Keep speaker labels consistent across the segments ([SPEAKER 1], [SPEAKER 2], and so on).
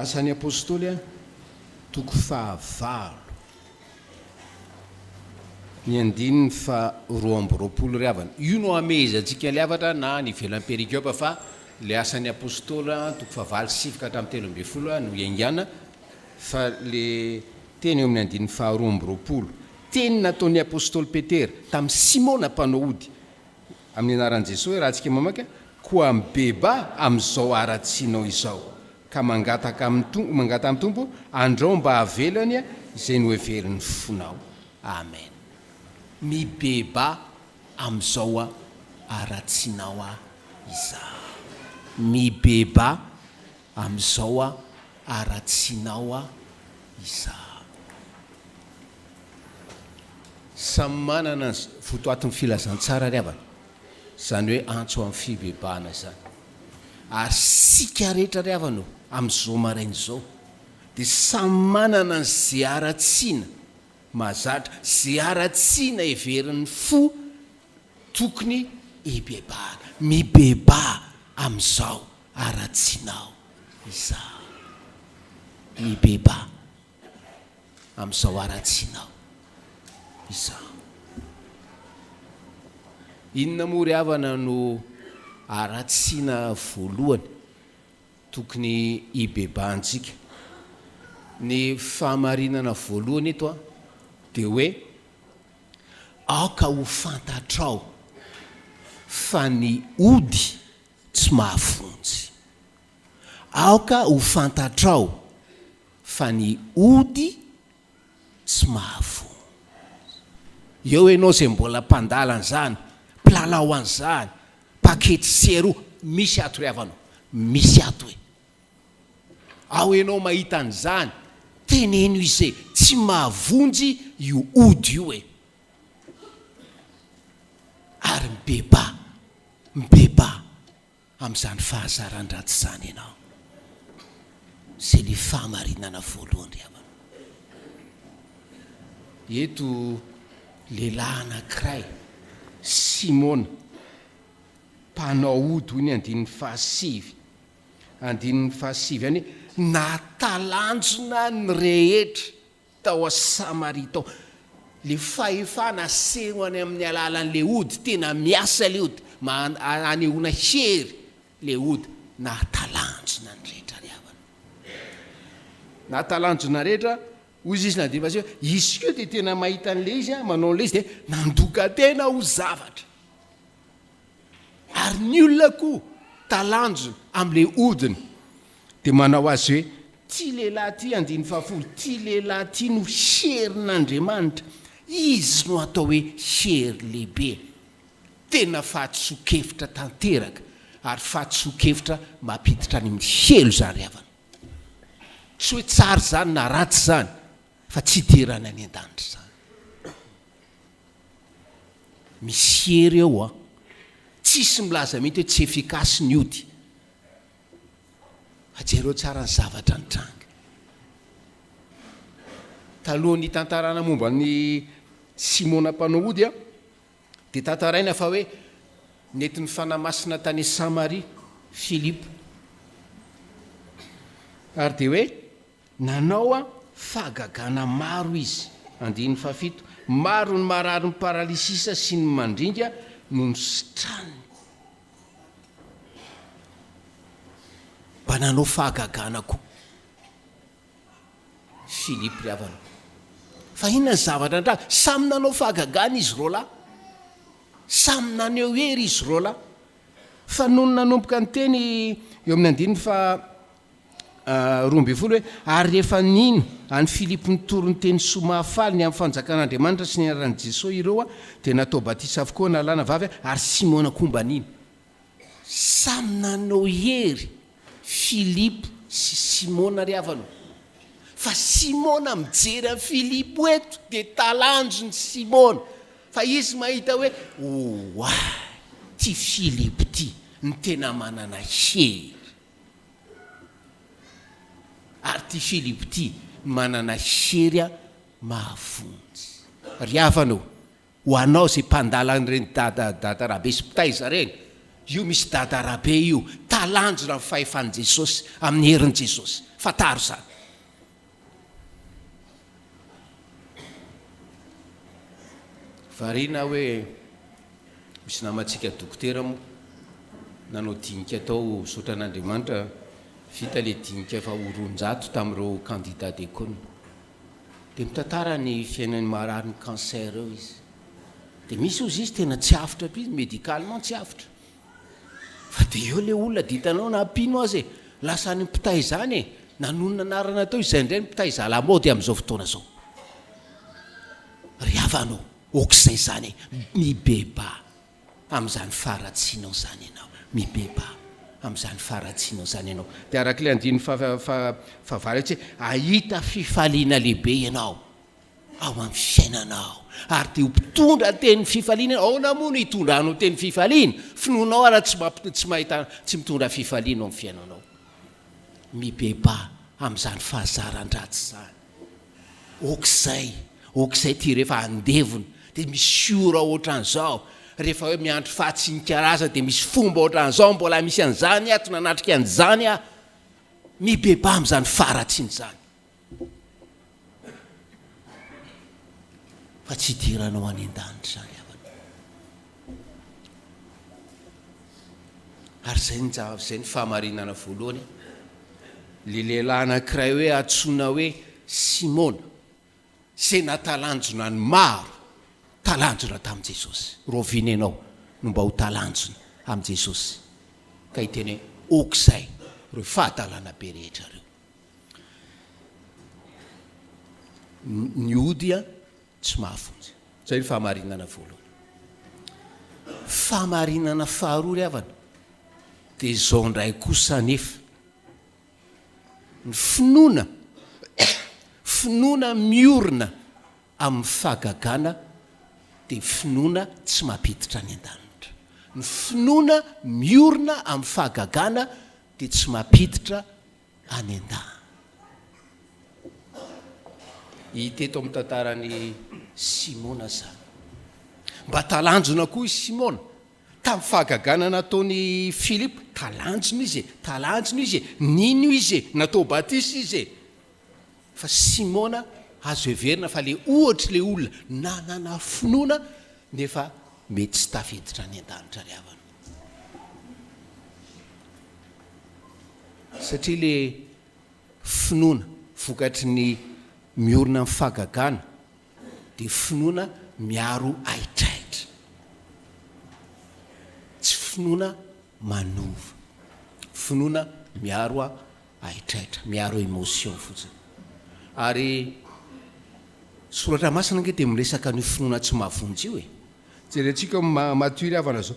[SPEAKER 1] Asan'ny Apôstôly A, toko fahavalo, ny andininy faharoa amby roapolo Ry havana, io no hamehezantsika ilay hafatra na any ivelan'ny perikiopa fa ilay Asan'ny Apôstôly A, toko fahavalo sy sivy ka hatramin'ny telo ambin'ny folo no iaingàna, Fa le teny eo amin'ny andininy faharoa amby roapolo, teny nataon'ny apostoly Petera tamin'i Simona mpanao ody amin'ny anaran'i Jesoa hoe, rahantsika mamaky, Koa mibeba amin'izao haratsianao izao, ka mangataka amin'ny Tompo, mangataha amin'ny Tompo, andrao mba havelany izay noheverin'ny fonao. Amen. Mibeba amin'izao haratsianao izao. Mibeba amin'izao. Aratsianao aho isahako. Samy manana ny votoatin'ny filazantsara ry havana, izany hoe antso amin'ny fibebahana izany. Ary isika rehetra ry havana ô, amin'izao maraina izao, dia samy manana ny ze haratsiana mahazatra, ze haratsiana heverin'ny fo tokony hibebahana. Mibebaha amin'izao. Haratsianao izaho. Mibebaha amin'izao haratsianao izaho. Inona moa ry havana no haratsiana voalohany tokony hibebahantsika? Ny fahamarinana voalohany eto dia hoe, aoka ho fantatrao fa ny ody Tsy mahavonjy. Aoka ho fantatrao fa ny ody tsy mahavonjy. Eo ianao izay mbola mpandala an'izany, mpilalao an'izany, pakety sy eroa, misy ato ry havana o, misy ato e. Ao ianao mahita an'izany, teneno izay, tsy mahavonjy io ody io e. Ary mibebà. Mibebaha amin'izany fahazaran-dratsy izany ianao. Izay ilay fahamarinana voalohany ry havana. Eto lehilahy anankiray, Simona, mpanao ody, hoy ny andininy fahasivy, andininy fahasivy any hoe, Nahatalanjona ny rehetra Tao a Samaria tao. Le fahefana aseho any amin'ny alalan'le ody, tena miasa le ody, anehoana hery le ody, nahatalanjona ny rehetra ry havana. Nahatalanjona rehetra, hoy Jesosy na dia efa aseho, izy koa dia tena mahita an'le izy, manao an'le izy dia nandoka tena ho zavatra. Ary ny olona koa talanjona amin'ilay odiny dia manao azy hoe, Ity lehilahy ity, andininy fahafolo, ity lehilahy ity no herin'Andriamanitra, izy no atao hoe hery lehibe. Tena fahadisoan-kevitra tanteraka, ary fahadisoan-kevitra mampiditra any amin'ny helo izany ry havana. Tsy hoe tsara izany na ratsy izany, fa tsy hidirana any an-danitra izany. Misy hery ao an! Tsisy milaza mihitsy hoe tsy efficace ny ody fa jereo tsara ny zavatra nitranga. Talohan'ny hitantarana momba an'i Simona mpanao ody an, dia tantaraina fa hoe nety nifanahy masina tany Samaria Filipo ary dia hoe, Nanao fahagagana maro izy. Andininy fahafito, Maro ny marary ny paralysisa sy ny mandringa noho ny sitrany. Mba nanao fahagagana koa i Philippe ry havana. Fa inona ny zavatra nitranga? Samy nanao fahagagana izy roalahy. Samy naneho hery izy roalahy. Fa nony nanomboka niteny eo amin'ny andininy faha roa ambin'ny folo hoe, Ary rehefa nino an'i Filipo nitory ny teny soa mahafaly ny amin'ny fanjakan'Andriamanitra sy ny anaran'i Jesoa ireo, dia natao batisa avokoa na lahy na vavy, ary Simona koa mba nino. Samy nanao hery Filipo sy Simona ry havana ô! Fa Simona mijery an'i Filipo eto dia talanjon'i Simona, fa izy mahita hoe, Oay, ity Filipo ity no tena manana hery. Ary ity Filipo ity manana hery mahavonjy. Ry havana ô, ho anao izay mpandala an'ireny dada dada rabe sy mpitaiza ireny, io misy dada rabe io, talanjona ny fahefan'i Jesosy, amin'ny herin'i Jesosy. Fantaro izany. Variana aho hoe misy namantsika dokotera moa nanao dinika tao misaotra an'Andriamanitra vita ilay dinika efa ho roanjato tamin'ireo candidats des cônes. Dia mitantara ny fiainany marary ny cancer eo izy. Dia misy hozy izy tena tsy avotra be izy médicalement tsy avotra. Fa dia eo ilay olona dia hitanao na mpino aza e! Lasa any mpitay izany e! Nanonona anarana teo izay indray ny mpitay zala-maody amin'izao fotoana izao. Ry havana ô, aok'izay izany e! Mibebaha amin'izany faharatsianao izany ianao. Mibebaha amin'izany faharatsianao izany ianao. Dia arak'ilay andininy faha-faha-fahavalo etsy hoe, Hahita fifaliana lehibe ianao. ao amin'ny fiainanao ary dia ho mpitondra ny tenin'ny fifaliana ianao. Ahoana moa no hitondranao ny tenin'ny fifaliana? Finoanao ary tsy tsy mahita tsy mitondra fifaliana ao amin'ny fiainanao. Mibebaha amin'izany fahazaran-dratsy izany. Aok'izay, aok'izay ity rehefa andevona dia misy ora ohatran'izao, rehefa hoe miandry fahatsinikarazana dia misy fomba ohatran'izao, mbola misy an'izany ato nanatrika an'izany aho. Mibebaha amin'izany faharatsiana izany. Fa tsy hidiranao any an-danitra izany havana. Ary izay no izay no fahamarinana voalohany. Ilay lehilahy anankiray hoe antsoina hoe Simona, izay nahatalanjona ny maro, talanjona tamin'i Jesosy. Rahoviana ianao no mba ho talanjona amin'i Jesosy ka hiteny hoe ok izay ireo fahatalana be rehetra ireo. Ny ody dia tsy mahafonja. Izay ny fahamarinana voalohany. Fahamarinana faharoa ry havana, dia izao indray kosa anefa. Ny finoana, finoana miorina amin'ny fahagagana dia finoana tsy mampiditra any an-danitra. Ny finoana miorina amin'ny fahagagana dia tsy mampiditra any an-dahy. Hita eto amin'ny tantaran'i Simona izany. Mba talanjona koa i Simona. Tamin'ny fahagagana nataon'i Filipo, talanjona izy e, talanjona izy e, nino izy e, natao batisa izy e. Fa Simona, azo heverina fa ilay ohatr'ilay olona nanana finoana nefa mety tsy tafiditra any an-danitra ry havana. Satria le finoana vokatry ny miorina amin'ny fahagagana dia finoana miaro ahitrahitra. Tsy finoana manova. Finoana miaro ahitrahitra, miaro emotion fotsiny. Ary soratra masina ange dia miresaka an'io finoana tsy mahavonjy io e. Jerentsika ny maha mature havana zao.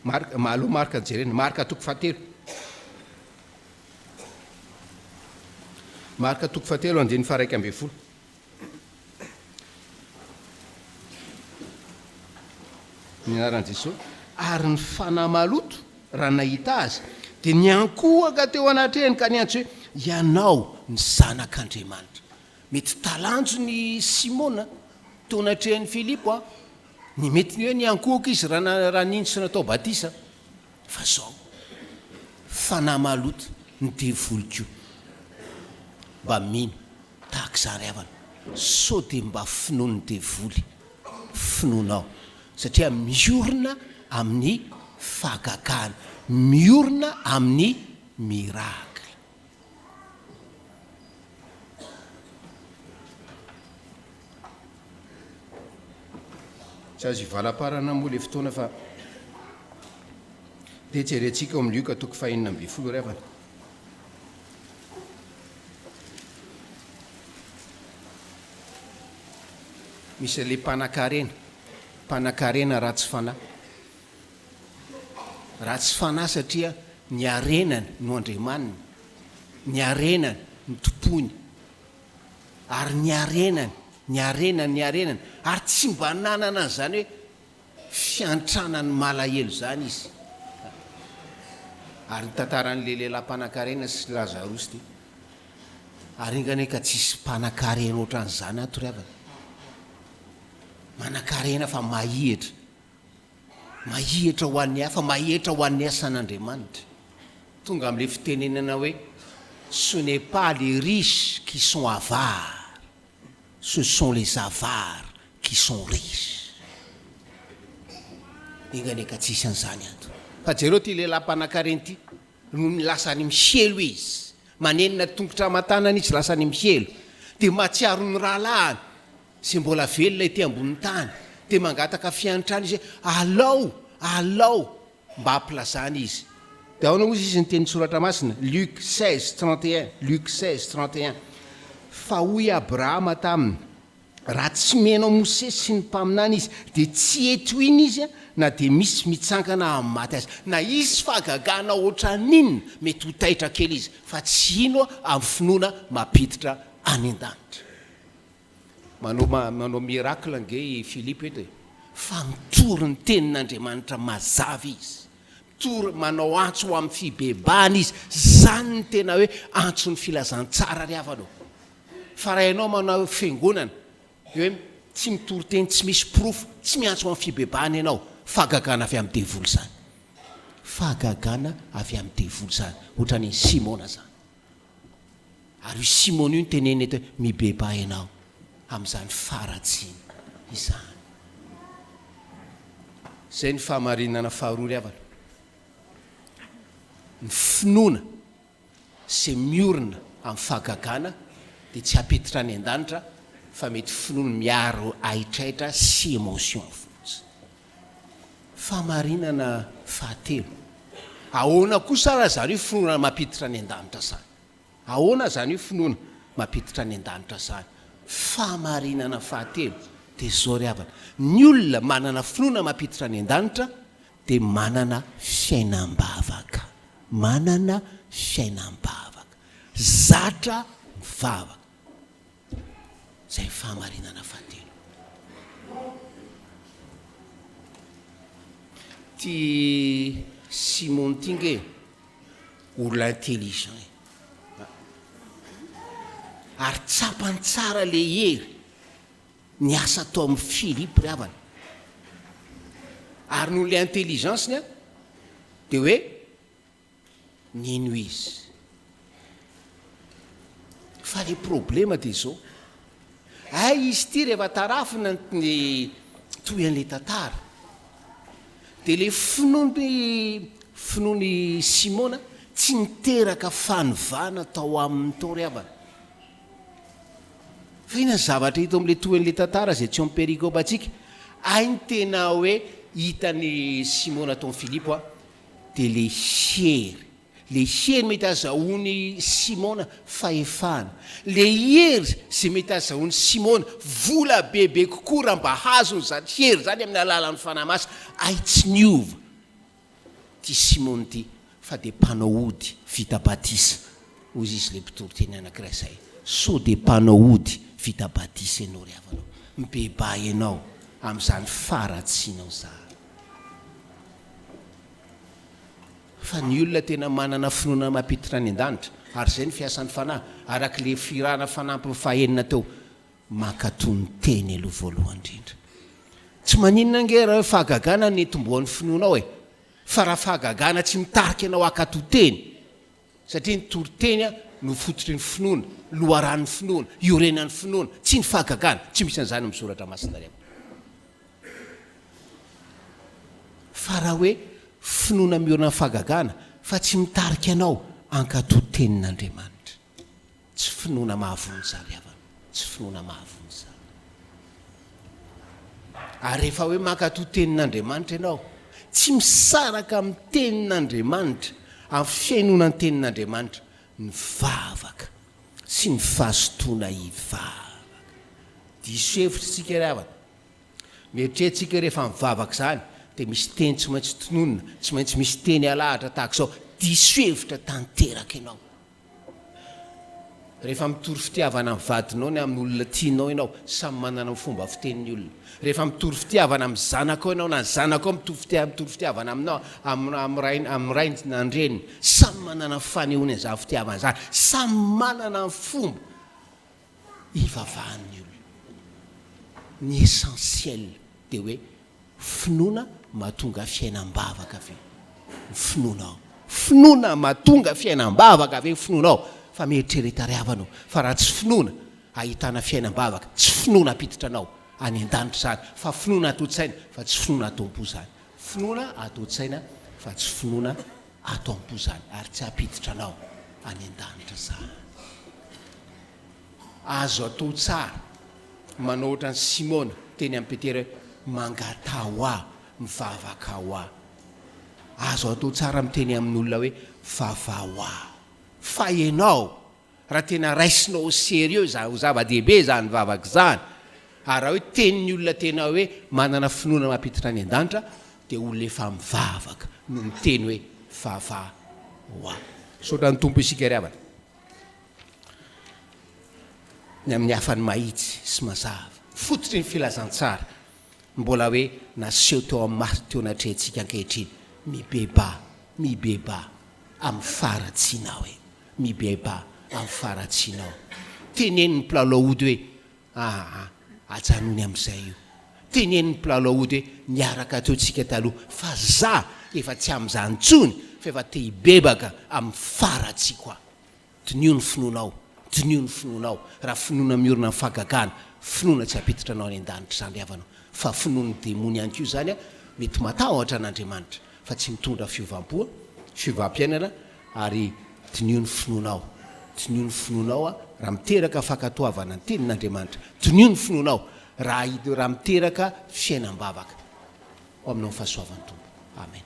[SPEAKER 1] Marc, aleo Marc no jerena. Marc toko fahatelo. Marc toko fahatelo andininy faharaika ambin'ny folo. Ny anaran'i Jesoa. Ary ny fanahy maloto raha nahita azy dia niankohoka teo anatrehany ka niantso hoe, Ianao ny Zanak'Andriamanitra. Mety talanjony i Simona, toa natrehin'i Filipo an, ny mety ny hoe niankohoka izy raha nino sy natao batisa. Fa izao, fanahy maloto, ny devoly koa mba mino tahaka izany havana. Sao dia mba finoan'ny devoly finoanao, satria miorina amin'ny fahagagana, miorina amin'ny miracle. Tsy azo ivalaparana moa ilay fotoana fa dia jerentsika ao amin'ny Lioka toko fahenina ambin'ny folo ry havana. Misy ilay mpanakarena, mpanakarena ratsy fanahy. Raha tsy fanahy satria ny harenany no andriamaniny, ny harenany no tompoiny, ary ny harenany, ny harenany, ny harenany, ary tsy mba nanana an'izany hoe fiantranan'ny malahelo izany izy. Ary ny tantaran'ilay lehilahy mpanankarena sy Lazarosy dia ary enga anie ka tsy hisy mpanankarena ohatran'izany ato ry havana. Manankarena fa mahihitra. Mahetra ho an'ny hafa, mahetra ho an'ny asan'Andriamanitra. Tonga amin'ilay fitenenana hoe ce n'est pas les riches qui sont avares, ce sont les avares qui sont riches. Enga anie ka tsy hisy an'izany ato. Fa jereo ity lehilahy mpanakarena ity, nony lasa any amin'ny sielo izy, manenina tongotra aman-tanana izy lasa any amin'ny sielo, dia mahatsiaro ny rahalahiny, Zay mbola velona ety ambonin'ny tany dia mangataka fiantrana izy hoe, Alao! Alao! Mba ampilazany izy. Dia ahoana hozy izy niteny ny soratra masina, Luc seize trente et un, Luc seize trente et un, Fa hoy Abrahama taminy, Raha tsy mihaino an'i Mosesy sy ny mpaminany izy, dia tsy hety ho iny izy na dia misy mitsangana amin'ny maty aza. Na hisy fahagagana hoatran'inona, mety ho taitra kely izy, fa tsy hino amin'ny finoana mampiditra any an-danitra. Manao manao miracle ange i Philippe eto e! Fa mitory ny tenin'Andriamanitra mazava izy, mitory, manao antso ho amin'ny fibebahana izy, izany no tena hoe antson'ny filazantsara ry havana ô! Fa raha ianao manao fiangonana dia hoe tsy mitory teny tsy misy porofo, tsy miantso ho amin'ny fibebahana ianao, fahagagana avy amin'ny devoly izany, fahagagana avy amin'ny devoly izany, ohatran'iny Simona izany. Ary io Simona io no teneniny eto hoe, Mibebaha ianao amin'izany faharatsiana izany. Izay ny fahamarinana faharoa ry havana. Ny finoana izay miorina amin'ny fahagagana dia tsy hapetra any an-danitra fa mety finoana miaro haitraitra sy émotion fotsiny. Fahamarinana fahatelo, Ahoana kosa ary izany io finoana mampiditra any an-danitra izany? Ahoana izany io finoana mampiditra any an-danitra izany? Fahamarinana fahatelo dia izao ry havana, ny olona manana finoana mampiditra any an-danitra dia manana fiainam-bavaka, manana fiainam-bavaka, zatra mivavaka. izay fahamarinana fahatelo. Ty Simon ty nge olona intelligent e. Ary tsapany tsara le hery ny asa atao am Philippe ry havana. Ary noho le intelligence-ny a de hoe. Nino izy. Fa le problema de zao. Hay izy ty rehefa tarafina ny toy an'le tantara. De le finoan'i finoan'i Simona tsy niteraka fanovana tao aminy tao ry havana. Fa inona ny zavatra hita ao am'le toy an'le tantara zay tsy ao am perikopantsika? Hay ny tena hoe hitan'i Simona tao am Filipo a, Dia le hery, le hery mety azahoan'i Simona fahefana, le hery izay mety azahoan'i Simona vola bebe kokoa raha mba azony izany hery izany amin'ny alalan'ny Fanahy Masina, hay tsy niova ity Simona ity fa dia mpanao ody vita batisa, hoy izy ilay mpitory teny anankiray izay, sao dia mpanao ody vita batisa ianao ry havanao, mibebaha ianao amin'izany faharatsianao izany. Fa ny olona tena manana finoana mampiditra any an-danitra, ary izay ny fiasan'ny Fanahy, araka ilay firahana fanampiny fahenina teo, mankato ny Teny aloha voalohany indrindra. Tsy maninona ange raha hoe fahagagana no nitomboan'ny finoanao e! Fa raha fahagagana tsy mitarika anao hankato Teny, Satria ny toriteny no fototry ny finoana, loharanon'ny finoana, iorenan'ny finoana, tsy ny fahagagana, tsy misy an'izany amin'ny Soratra Masina ry havana. Fa raha hoe finoana miorina amin'ny fahagagana fa tsy mitarika anao hankato ny Tenin'Andriamanitra. Tsy finoana mahavoa izany havana, tsy finoana mahavoa izany. Ary rehefa hoe mankatoa tenin'Andriamanitra ianao, tsy misaraka amin'ny tenin'Andriamanitra, amin'ny fihainoana ny tenin'Andriamanitra, ny vavaka sy ny fahazotoana hivavaka. Diso hevitra isika ry havana. Mieritreritsika hoe rehefa mivavaka izany dia misy teny tsy maintsy tononina, tsy maintsy misy teny alahatra tahaka izao. Diso hevitra tanteraka ianao. Rehefa mitory fitiavana amin'ny vadinao na amin'ny olona tianao ianao, samy manana ny fomba fiteny ny olona. Rehefa mitory fitiavana amin'ny zanakao ianao na ny zanakao mitory fitiavana aminao, amin'ny rainy na ny reniny, samy manana ny fanehoany an'izany fitiavana izany. Samy manana ny fomba. hivavahan'ny olona. Ny essentiel dia hoe finoana mahatonga fiainam-bavaka ve ny finoanao? Finoana mahatonga fiainam-bavaka ve ny finoanao? Fa mieritrereta ry havana ô, fa raha tsy finoana ahitana fiainam-bavaka, tsy finoana hampiditra anao any an-danitra izany, fa finoana ato an-tsaina fa tsy finoana ato am-po izany. Finoana ato an-tsaina fa tsy finoana Ato am-po izany, ary tsy hampiditra anao any an-danitra izany. Azo atao tsara manao ohatran'i Simona teny amin'i Petera hoe, Mangataho aho, mivavaka ho ahy. Azo atao tsara miteny amin'olona hoe, Vavaho aho. Fa ianao, Raha tena raisina au serieux izany, ho zava-dehibe izany vavaka izany, ary raha hoe tenin'ny olona tena hoe manana finoana mampiditra any an-danitra, dia olona efa mivavaka no miteny hoe Vava ho ahy. Misaotra ny Tompo isika ry havana, ny amin'ny hafany mahitsy sy mazava, fototry ny filazantsara mbola hoe naseho teo amin'ny maso teo natrehintsika ankehitriny, mibebaha, mibebaha amin'ny faharatsiana hoe. Mibeba amin'ny faharatsianao. Tenenin'ny mpilalao ody hoe, Aa, ajanony amin'izay io. Tenenin'ny mpilalao ody hoe, Niaraka teo tsika taloha, fa za efa tsy amin'izany intsony, fa efa te hibebaka amin'ny faharatsiako aho. Diniho ny finoanao, diniho ny finoanao, raha finoana miorina amin'ny fahagagana, finoana tsy hampiditra anao any an-danitra izany ry havana, fa finoan'ny demony ihany koa izany, mety matahotra an'Andriamanitra, fa tsy mitondra fiovam-po, fiovam-piainana, ary diniho ny finoanao, diniho ny finoanao a, raha miteraka fankatoavana ny tenin'Andriamanitra, diniho ny finoanao, raha raha miteraka fiainam-bavaka ho aminao ny fahasoavan'ny Tompo. Amen.